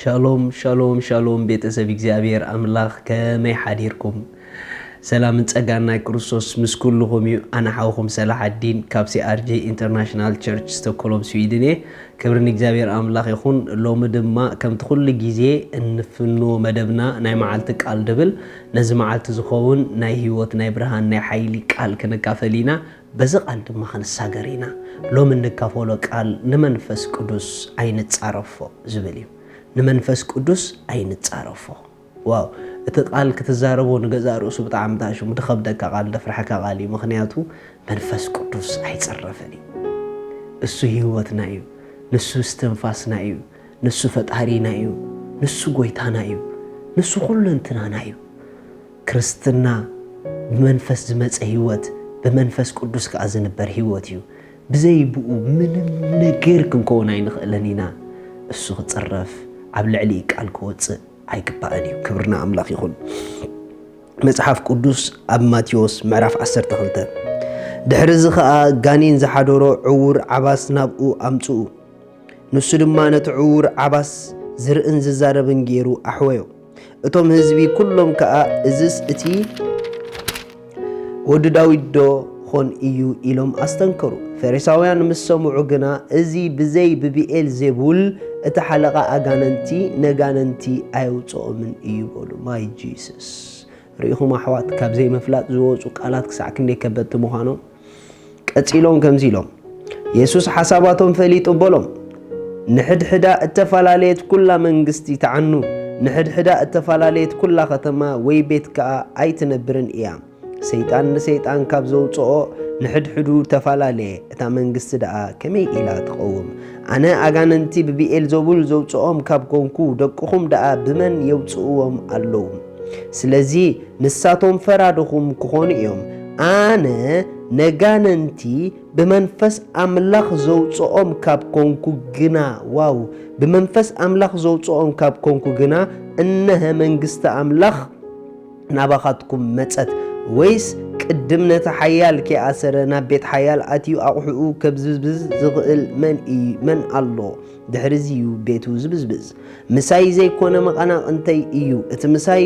ሻሎም ሻሎም ሻሎም ቤተሰብ እግዚኣብሔር ኣምላኽ ከመይ ሓዲርኩም ሰላምን ጸጋን ናይ ክርስቶስ ምስ ኩልኹም እዩ ኣነ ሓውኹም ሰላሓዲን ካብ ሲኣርጂ ኢንተርናሽናል ቸርች ስቶኮሎም ስዊድን እየ ክብሪ ንእግዚኣብሔር ኣምላኽ ይኹን ሎሚ ድማ ከምቲ ኩሉ ግዜ እንፍንዎ መደብና ናይ መዓልቲ ቃል ድብል ነዚ መዓልቲ ዝኸውን ናይ ህይወት ናይ ብርሃን ናይ ሓይሊ ቃል ክንካፈል ኢና በዚ ቃል ድማ ክንሳገር ኢና። ሎሚ እንካፈሎ ቃል ንመንፈስ ቅዱስ ኣይንጻረፎ ዝብል እዩ። ንመንፈስ ቅዱስ ኣይንጻረፎ። ዋው እቲ ቃል ክትዛረቦ ንገዛእ ርእሱ ብጣዕሚ ታሽሙ ድኸብደካ ቃል ደፍርሐካ ቃል እዩ ምክንያቱ መንፈስ ቅዱስ ኣይጽረፍን እዩ። እሱ ህይወትና እዩ። ንሱ እስትንፋስና እዩ። ንሱ ፈጣሪና እዩ። ንሱ ጎይታና እዩ። ንሱ ኩሉ እንትናና እዩ። ክርስትና ብመንፈስ ዝመጸ ሕይወት ብመንፈስ ቅዱስ ከኣ ዝንበር ሕይወት እዩ። ብዘይ ብኡ ምንም ነገር ክንከውን ኣይንኽእልን ኢና። እሱ ክጽረፍ ኣብ ልዕሊ ቃል ክወጽእ ኣይግባእን እዩ። ክብሪ ንኣምላኽ ይኹን። መጽሓፍ ቅዱስ ኣብ ማቴዎስ ምዕራፍ 12 ድሕሪ እዚ ኸኣ ጋኔን ዝሓደሮ ዕውር ዓባስ ናብኡ ኣምጽኡ ንሱ ድማ ነቲ ዕውር ዓባስ ዝርእን ዝዛረብን ገይሩ ኣሕወዮ። እቶም ህዝቢ ኩሎም ከኣ እዝስ እቲ ወዲ ዳዊት ዶ ኾን እዩ ኢሎም ኣስተንከሩ። ፈሪሳውያን ምስ ሰምዑ ግና እዚ ብዘይ ብብኤል ዜቡል እቲ ሓለቓ ኣጋንንቲ ነጋንንቲ ኣየውጽኦምን እዩ በሉ። ማይ ጂሱስ ርኢኹም ኣሕዋት ካብ ዘይምፍላጥ ዝወጹ ቃላት ክሳዕ ክንደይ ከበድቲ ምዃኖም። ቀጺሎም ከምዚ ኢሎም፣ የሱስ ሓሳባቶም ፈሊጡ በሎም፣ ንሕድሕዳ እተፈላለየት ኵላ መንግስቲ ትዓኑ፣ ንሕድሕዳ እተፈላለየት ኵላ ኸተማ ወይ ቤት ከኣ ኣይትነብርን እያ። ሰይጣን ንሰይጣን ካብ ዘውጽኦ ንሕድሕዱ ተፈላለየ፣ እታ መንግስቲ ደኣ ከመይ ኢላ ትቐውም? ኣነ ኣጋንንቲ ብብኤልዘቡል ዘውጽኦም ካብ ኰንኩ፣ ደቅኹም ደኣ ብመን የውጽእዎም ኣለዉ? ስለዚ፣ ንሳቶም ፈራድኹም ክኾኑ እዮም፣ ኣነ ነጋንንቲ ብመንፈስ ኣምላኽ ዘውጽኦም ካብ ኮንኩ ግና፣ ዋው! ብመንፈስ ኣምላኽ ዘውጽኦም ካብ ኮንኩ ግና፣ እነሀ መንግስቲ ኣምላኽ ናባኻትኩም መጸት። ወይስ ቅድም ነቲ ሓያል ከይኣሰረ ናብ ቤት ሓያል ኣትዩ ኣቑሑኡ ከብዝብዝ ዝኽእል መን ኣሎ? ድሕርዚ እዩ ቤቱ ዝብዝብዝ። ምሳይ ዘይኮነ መቐናቕንተይ እዩ፣ እቲ ምሳይ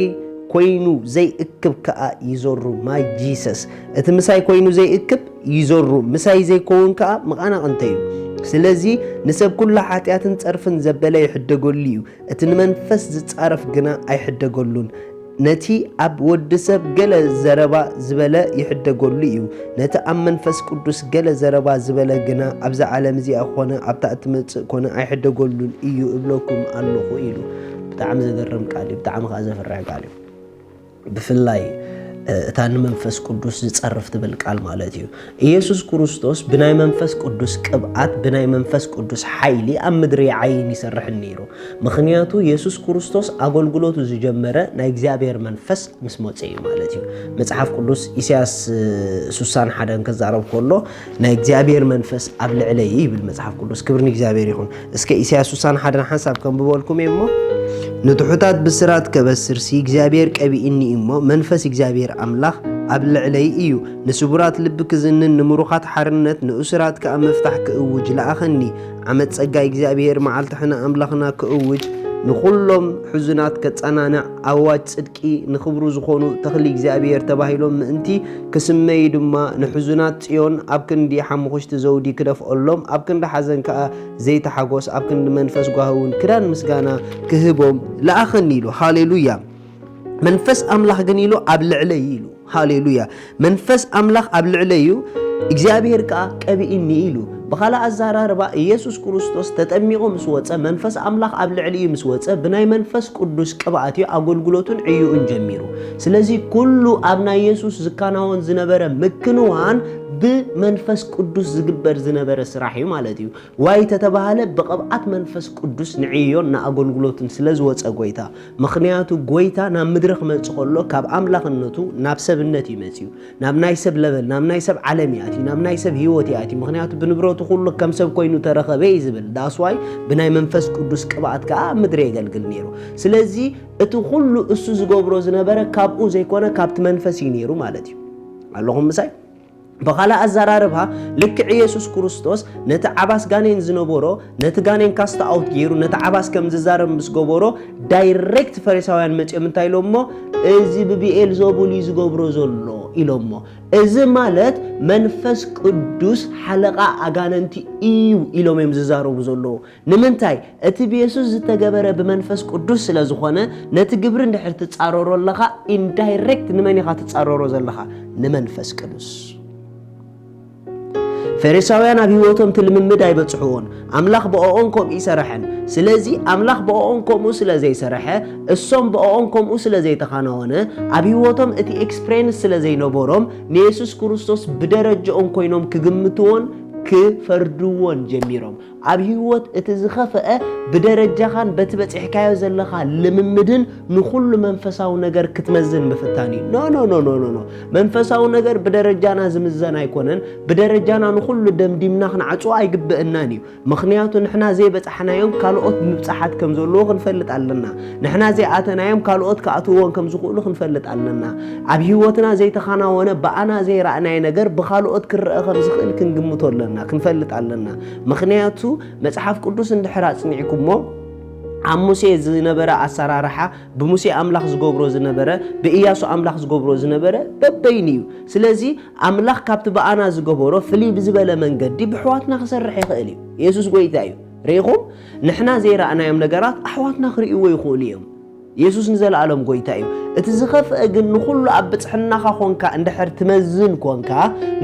ኮይኑ ዘይእክብ ከኣ ይዘሩ። ማይ ጂሰስ! እቲ ምሳይ ኮይኑ ዘይእክብ ይዘሩ፣ ምሳይ ዘይኮውን ከኣ መቐናቕንተይ እዩ። ስለዚ ንሰብ ኩሉ ሓጢኣትን ጸርፍን ዘበለ ይሕደገሉ እዩ፣ እቲ ንመንፈስ ዝጻረፍ ግና ኣይሕደገሉን። ነቲ ኣብ ወዲ ሰብ ገለ ዘረባ ዝበለ ይሕደገሉ እዩ፣ ነቲ ኣብ መንፈስ ቅዱስ ገለ ዘረባ ዝበለ ግና ኣብዛ ዓለም እዚኣ ኮነ ኣብታ እትመጽእ ኮነ ኣይሕደገሉን እዩ እብለኩም ኣለኹ ኢሉ። ብጣዕሚ ዘገርም ቃል እዩ፣ ብጣዕሚ ከዓ ዘፍርሕ ቃል እዩ። ብፍላይ እታ ንመንፈስ ቅዱስ ዝጸርፍ ትብል ቃል ማለት እዩ። ኢየሱስ ክርስቶስ ብናይ መንፈስ ቅዱስ ቅብኣት ብናይ መንፈስ ቅዱስ ሓይሊ ኣብ ምድሪ ይዓይን ይሰርሕን ነይሩ። ምኽንያቱ ኢየሱስ ክርስቶስ ኣገልግሎቱ ዝጀመረ ናይ እግዚኣብሔር መንፈስ ምስ መፀ እዩ ማለት እዩ። መጽሓፍ ቅዱስ ኢሳያስ ሱሳን ሓደን ከዛረብ ከሎ ናይ እግዚኣብሔር መንፈስ ኣብ ልዕለይ ይብል መጽሓፍ ቅዱስ። ክብሪ ንእግዚኣብሔር ይኹን። እስከ ኢሳያስ ስሳን ሓደን ሓንሳብ ከንብበልኩም እየ እሞ ንትሑታት ብስራት ከበስርሲ እግዚኣብሔር ቀቢእኒ እዩ እሞ መንፈስ እግዚኣብሔር ኣምላኽ ኣብ ልዕለይ እዩ ንስቡራት ልቢ ክዝንን ንምሩኻት ሓርነት ንእሱራት ከኣ ምፍታሕ ክእውጅ ለኣኸኒ ዓመት ጸጋይ እግዚኣብሔር መዓልቲ ሕነ ኣምላኽና ክእውጅ ንዅሎም ሕዙናት ከጸናንዕ ኣዋጅ ጽድቂ ደቂ ንኽብሩ ዝኾኑ ተኽሊ እግዚኣብሔር ተባሂሎም ምእንቲ ክስመዩ ድማ ንሕዙናት ጽዮን ኣብ ክንዲ ሓሙኽሽቲ ዘውዲ ክደፍኦሎም ኣብ ክንዲ ሓዘን ከኣ ዘይቲ ሓጎስ ኣብ ክንዲ መንፈስ ጓሂ እውን ክዳን ምስጋና ክህቦም ለኣኸኒ ኢሉ ሃሌሉያ መንፈስ ኣምላኽ ግን ኢሉ ኣብ ልዕለይ ኢሉ ሃሌሉያ መንፈስ ኣምላኽ ኣብ ልዕለይ እዩ እግዚኣብሔር ከዓ ቀብኢኒ ኢሉ ብኻልእ ኣዘራርባ ኢየሱስ ክርስቶስ ተጠሚቑ ምስ ወፀ መንፈስ ኣምላኽ ኣብ ልዕሊ እዩ ምስ ወፀ ብናይ መንፈስ ቅዱስ ቅብኣት እዩ ኣገልግሎቱን ዕዩኡን ጀሚሩ ስለዚ ኩሉ ኣብ ናይ ኢየሱስ ዝከናወን ዝነበረ ምክንዋን ብመንፈስ ቅዱስ ዝግበር ዝነበረ ስራሕ እዩ ማለት እዩ ዋይ ተተባሃለ ብቕብኣት መንፈስ ቅዱስ ንዕዮን ንኣገልግሎትን ስለ ዝወፀ ጎይታ ምኽንያቱ ጎይታ ናብ ምድሪ ክመጽእ ከሎ ካብ ኣምላኽነቱ ናብ ሰብነት እዩ መጺኡ። ናብ ናይ ሰብ ለበል፣ ናብ ናይ ሰብ ዓለም እዩ ኣትዩ፣ ናብ ናይ ሰብ ህይወት እዩ ኣትዩ። ምኽንያቱ ብንብረቱ ኩሉ ከም ሰብ ኮይኑ ተረኸበ እዩ ዝብል። ዳስዋይ ብናይ መንፈስ ቅዱስ ቅብኣት ከኣ ኣብ ምድሪ የገልግል ነይሩ። ስለዚ እቲ ኩሉ እሱ ዝገብሮ ዝነበረ ካብኡ ዘይኮነ ካብቲ መንፈስ እዩ ነይሩ ማለት እዩ። ኣለኹም ምሳይ? ብኻልእ ኣዘራርባ ልክዕ ኢየሱስ ክርስቶስ ነቲ ዓባስ ጋኔን ዝነበሮ ነቲ ጋኔን ካስት ኣውት ገይሩ ነቲ ዓባስ ከም ዝዛረብ ምስ ገበሮ ዳይሬክት ፈሪሳውያን መጺኦም እንታይ ኢሎሞ እዚ ብብኤል ዘቡል እዩ ዝገብሮ ዘሎ ኢሎሞ እዚ ማለት መንፈስ ቅዱስ ሓለቓ ኣጋነንቲ እዩ ኢሎም እዮም ዝዛረቡ ዘለዉ ንምንታይ? እቲ ብየሱስ ዝተገበረ ብመንፈስ ቅዱስ ስለ ዝኾነ፣ ነቲ ግብሪ እንድሕር ትጻረሮ ኣለኻ፣ ኢንዳይሬክት ንመን ኢኻ ትጻረሮ ዘለኻ? ንመንፈስ ቅዱስ። ፈሪሳውያን ኣብ ህይወቶም እቲ ልምምድ ኣይበጽሕዎን። ኣምላኽ ብኦኦም ከምኡ ይሰረሐን። ስለዚ ኣምላኽ ብኦኦም ከምኡ ስለ ዘይሰረሐ፣ እሶም ብኦኦም ከምኡ ስለ ዘይተኻናወነ፣ ኣብ ህይወቶም እቲ ኤክስፕሬንስ ስለ ዘይነበሮም፣ ንየሱስ ክርስቶስ ብደረጀኦም ኮይኖም ክግምትዎን ክፈርድዎን ጀሚሮም። ኣብ ህይወት እቲ ዝኸፍአ ብደረጃኻን በቲ በጺሕካዮ ዘለኻ ልምምድን ንኹሉ መንፈሳዊ ነገር ክትመዝን ምፍታን እዩ። ኖ ኖ ኖ ኖ ኖ መንፈሳዊ ነገር ብደረጃና ዝምዘን ኣይኮነን። ብደረጃና ንኹሉ ደምዲምና ክንዓጽዎ ኣይግበእናን እዩ። ምክንያቱ ንሕና ዘይበጻሕናዮም ካልኦት ምብጻሓት ከም ዘለዎ ክንፈልጥ ኣለና። ንሕና ዘይኣተናዮም ካልኦት ክኣትውዎን ከም ዝኽእሉ ክንፈልጥ ኣለና። ኣብ ህይወትና ዘይተኻናወነ ብኣና ዘይረእናዮ ነገር ብካልኦት ክረአ ከም ዝኽእል ክንግምቶ ኣለና፣ ክንፈልጥ ኣለና። ምኽንያቱ መጽሓፍ ቅዱስ እንድሕር ኣጽኒዕኩሞ ኣብ ሙሴ ዝነበረ ኣሰራርሓ ብሙሴ ኣምላኽ ዝገብሮ ዝነበረ ብእያሱ ኣምላኽ ዝገብሮ ዝነበረ በበይኑ እዩ ስለዚ ኣምላኽ ካብቲ ብኣና ዝገበሮ ፍልይ ብዝበለ መንገዲ ብሕዋትና ክሰርሕ ይኽእል እዩ የሱስ ጎይታ እዩ ርኢኹም ንሕና ዘይረኣናዮም ነገራት ኣሕዋትና ክርእይዎ ይኽእሉ እዮም የሱስ ንዘለኣለም ጎይታ እዩ። እቲ ዝኸፍአ ግን ንኹሉ ኣብ ብጽሕናኻ ኾንካ እንድሕር ትመዝን ኮንካ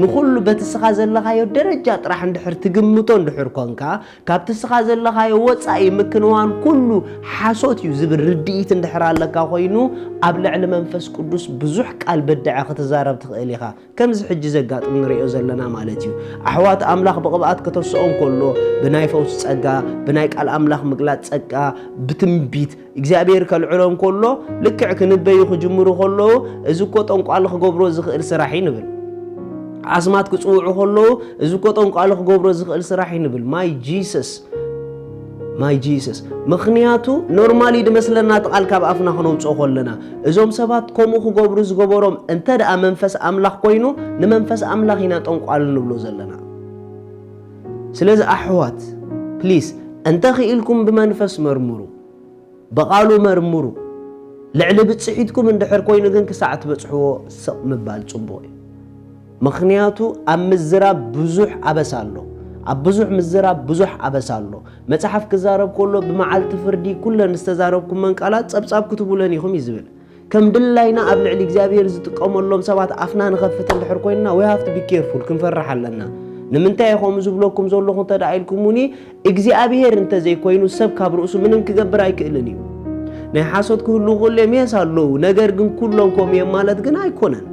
ንኹሉ በቲ ስኻ ዘለኻዮ ደረጃ ጥራሕ እንድሕር ትግምቶ እንድሕር ኮንካ ካብቲ ስኻ ዘለኻዮ ወጻኢ ምክንዋን ኩሉ ሓሶት እዩ ዝብል ርድኢት እንድሕር ኣለካ ኮይኑ ኣብ ልዕሊ መንፈስ ቅዱስ ብዙሕ ቃል በድዐ ክትዛረብ ትኽእል ኢኻ ከምዚ ሕጂ ዘጋጥም ንርእዮ ዘለና ማለት እዩ። ኣሕዋት ኣምላኽ ብቕብኣት ከተስኦም ከሎ ብናይ ፈውስ ጸጋ፣ ብናይ ቃል ኣምላኽ ምግላጽ ጸጋ፣ ብትንቢት እግዚኣብሔር ከልዕሎም ከሎ ልክዕ ክንበዩ ክጅምሩ ከለዉ እዚ እኮ ጠንቋሊ ክገብሮ ዝኽእል ስራሕ እዩ ንብል። ኣስማት ክጽውዑ ከለዉ እዚ እኮ ጠንቋሊ ክገብሮ ዝኽእል ስራሕ እዩ ንብል። ማይ ጂሰስ ማይ ጂሰስ ምኽንያቱ ኖርማል እዩ ድመስለና እቲ ቃል ካብ ኣፍና ክነውፅኦ ኮለና እዞም ሰባት ከምኡ ክገብሩ ዝገበሮም እንተ ደኣ መንፈስ ኣምላኽ ኮይኑ ንመንፈስ ኣምላኽ ኢና ጠንቋል ንብሎ ዘለና ስለዚ ኣሕዋት ፕሊስ እንተ ኽኢልኩም ብመንፈስ መርምሩ ብቓሉ መርምሩ። ልዕሊ ብጽሒትኩም እንድሕር ኮይኑ ግን ክሳዕ ትበጽሕዎ ስቕ ምባል ጽቡቕ እዩ። ምኽንያቱ ኣብ ምዝራብ ብዙሕ ኣበሳ ኣሎ። ኣብ ብዙሕ ምዝራብ ብዙሕ ኣበሳ ኣሎ። መጽሓፍ ክዛረብ ከሎ ብመዓልቲ ፍርዲ ኩለን ዝተዛረብኩመን ቃላት ጸብጻብ ክትህቡለን ኢኹም እዩ ዝብል። ከም ድላይና ኣብ ልዕሊ እግዚኣብሄር ዝጥቀመሎም ሰባት ኣፍና ንኸፍት እንድሕር ኮይንና ዊ ሃፍቲ ቢኬርፉል ክንፈርሕ ኣለና። ንምንታይ እየ ከምኡ ዝብለኩም ዘለኹ እንተ ደኣ ኢልኩሙኒ እግዚኣብሄር እንተዘይኮይኑ ሰብ ካብ ርእሱ ምንም ክገብር ኣይክእልን እዩ። ናይ ሓሶት ክህልው ከሎ እዮም የስ ኣለዉ ነገር ግን ኩሎም ከምኡ እዮም ማለት ግን ኣይኮነን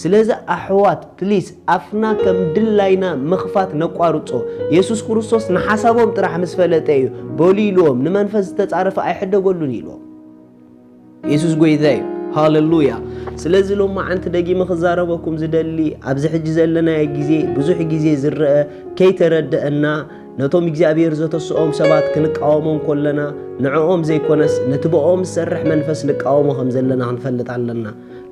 ስለዚ ኣሕዋት ፕሊስ ኣፍና ከም ድላይና ምኽፋት ነቋርጾ የሱስ ክርስቶስ ንሓሳቦም ጥራሕ ምስ ፈለጠ እዩ በሉ ኢልዎም ንመንፈስ ዝተጻረፈ ኣይሕደገሉን ኢልዎም የሱስ ጎይታ እዩ ሃለሉያ ስለዚ ሎማዓንቲ ደጊመ ክዛረበኩም ዝደሊ ኣብዚ ሕጂ ዘለናዮ ግዜ ብዙሕ ግዜ ዝረአ ከይተረደአና ነቶም እግዚኣብሔር ዘተስኦም ሰባት ክንቃወሞም ኮለና ንዕኦም ዘይኮነስ ነቲ ብኦም ዝሰርሕ መንፈስ ንቃወሞ ከም ዘለና ክንፈልጥ ኣለና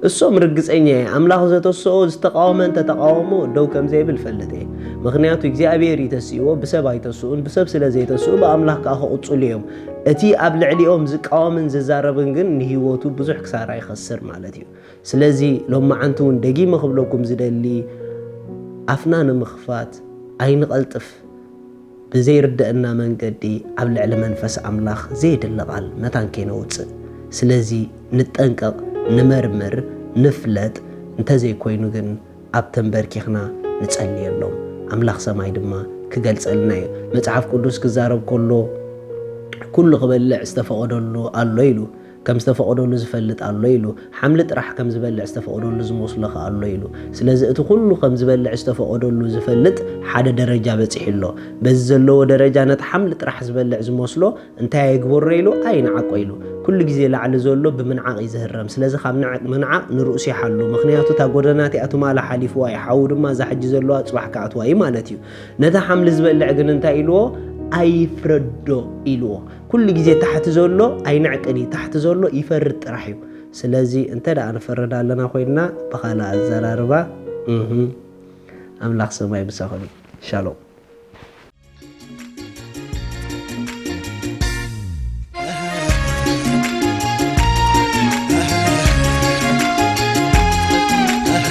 እሶም ርግጸኛ እየ ኣምላኽ ዘተስኦ ዝተቃወመ እንተ ተቃወሞ ደው ከም ዘይብል እፈልጥ እየ ምኽንያቱ እግዚኣብሔር እዩ ተስእዎ ብሰብ ኣይተስኡን ብሰብ ስለ ዘይተስኡ ብኣምላኽ ከኣ ክቕጽሉ እዮም እቲ ኣብ ልዕሊኦም ዝቃወምን ዝዛረብን ግን ንህይወቱ ብዙሕ ክሳራ ይኸስር ማለት እዩ ስለዚ ሎማዓንቲ እውን ደጊመ ክብለኩም ዝደሊ ኣፍና ንምኽፋት ኣይንቐልጥፍ ብዘይርደእና መንገዲ ኣብ ልዕሊ መንፈስ ኣምላኽ ዘየድሊ ቃል መታን ከይነውጽእ ስለዚ ንጠንቀቅ ንመርምር ንፍለጥ እንተዘይኮይኑ ግን ኣብ ተንበርኪኽና ንጸልየሎም ኣምላኽ ሰማይ ድማ ክገልጸልና እዩ መጽሓፍ ቅዱስ ክዛረብ ኮሎ ኩሉ ክበልዕ ዝተፈቀደሉ ኣሎ ኢሉ ከም ዝተፈቐደሉ ዝፈልጥ ኣሎ ኢሉ። ሓምሊ ጥራሕ ከም ዝበልዕ ዝተፈቐደሉ ዝመስሎ ከ ኣሎ ኢሉ። ስለዚ እቲ ኩሉ ከም ዝበልዕ ዝተፈቐደሉ ዝፈልጥ ሓደ ደረጃ በጺሑ ኣሎ። በዚ ዘለዎ ደረጃ ነቲ ሓምሊ ጥራሕ ዝበልዕ ዝመስሎ እንታይ ኣይግበሮ ኢሉ ኣይንዓቆ ኢሉ። ኩሉ ግዜ ላዕሊ ዘሎ ብምንዓቕ እዩ ዝህረም። ስለዚ ካብ ንዕቅ ምንዓቕ ንርእሱ ይሓሉ። ምኽንያቱ እታ ጎደና እቲኣ ትማሊ ሓሊፍዋ እዩ። ሓዊ ድማ እዛ ሕጂ ዘለዋ ጽባሕ ክኣትዋ እዩ ማለት እዩ። ነቲ ሓምሊ ዝበልዕ ግን እንታይ ኢልዎ? ኣይፍረዶ ኢልዎ። ኩሉ ግዜ ታሕቲ ዘሎ ኣይንዕቅን እዩ ታሕቲ ዘሎ ይፈርድ ጥራሕ እዩ ስለዚ እንተ ደኣ ንፈርድ ኣለና ኮይንና ብኻልእ ኣዘራርባ ኣምላኽ ሰማይ ምሳኹም እዩ ሻሎም